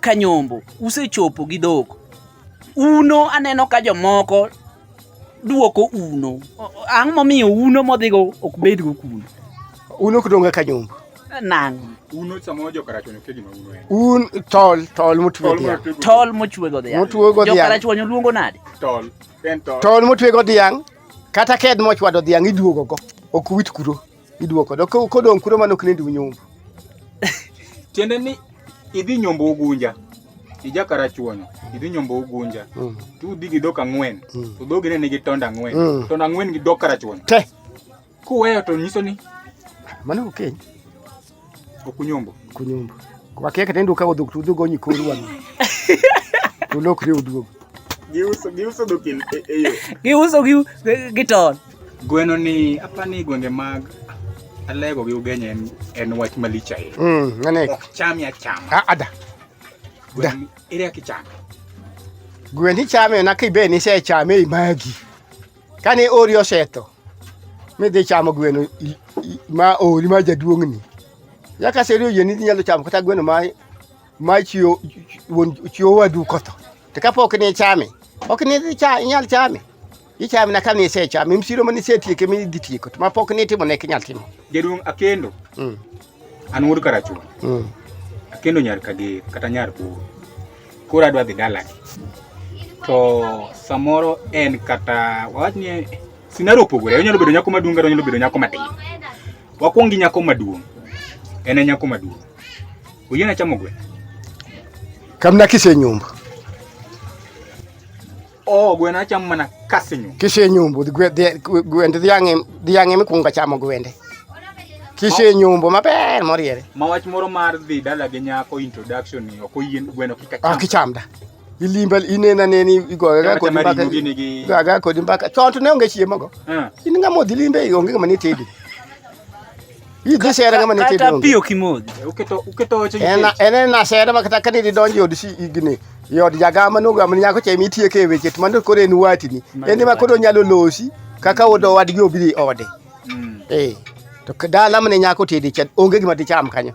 Kanyombo usechopo gi dhok. Uno aneno ka jomoko duoko uno. Ang' momiyo uno modhigo ok bedgo kuno. Uno ok donga Kanyombo. Nang'. Uno samoro jokarach onyo kegi ma uno en. Un tol tol motwe dhiang'. Tol mochwe go dhiang'. Motwe go dhiang'. Jokarach onyo luongo nade? Tol. En tol. Tol motwe go dhiang' kata ked mochwado dhiang' iduogo go. Ok wit kuro. Iduoko do ko kodong kuro mano knendi unyumbu. Tiende ni idhi nyombo ugunja. Ija karachuonyo. Idhi nyombo ugunja. Mm. Tu udhi gi dok ang'wen. Mm. To dhogi ne nigi tonda ang'wen. Mm. Tonda ang'wen gi dok karachuonyo. Te. Kuweyo to nyiso ni mano okeny. Okay. Okunyombo. Okunyombo. Kwa keke tendo ukago duk tudu go nyikuru wanu. Tulok riu duogo. Giuso giuso duk il e, eyo. Giuso giu giton. Gweno ni apani gwenge mag alego gi ugenya en en wach malich ahinya. Mm, ngane. Ok cham ya cham. A ah, ada. Da. Ere akicham. Gwen ichame na kibe ni se chame imagi. Kane ori osetho, midhi chamo gweno ma ori ma jaduong'ni. Nyaka seri oyieni idhi nyalo chamo kata gweno ma ma chiwo chiwo wadu kotho. To kapok ni chame, ok ni idhi chame, inyal chame. Ichame na kane isechame, msiro mane isetieke mi idhi tieko, to ma pok ni itimo ne inyal timo. Jaduong' Akendo. Mm. An wuod Karachuma. Mm. Akendo nyar Kager kata nyar Buru. Koro adwa dhi dalagi. To samoro en kata wawach ni sinaro opogore. Onyalo bedo nyako maduong' kata onyalo bedo nyako matin. Wakwong gi nyako maduong'. En e nyako maduong'. Oyiena chamo gweno. Kamna kise nyumba. o gweno achamo mana kasinyo kisenyombo gwende dhiang'e mikwongo achamo gwende kisenyombo maber moriere ma wach moro mar dhi dala gi nyako introduction ni ok oyien gweno kik acham ok icham da ilimba inena neni igoyo ga kodi mbaka ga ga kodi mbaka chon to ne onge chiemo go in ngamo dhi limbe onge ngama ni tedi Hii dhi sere kama nitie donge. Kata pio kimoji. Eh, uketo uketo weche. Ena ena na sere ma kata kani donjo od si igni. Yod jagama no gam nyako che mitie ke weche to mando kore en wati ni. Ende ma koro nyalo losi kaka odo wadgi obiri ode. Mm. Eh. To dala mane nyako tedi chat onge gima dicham kanyo.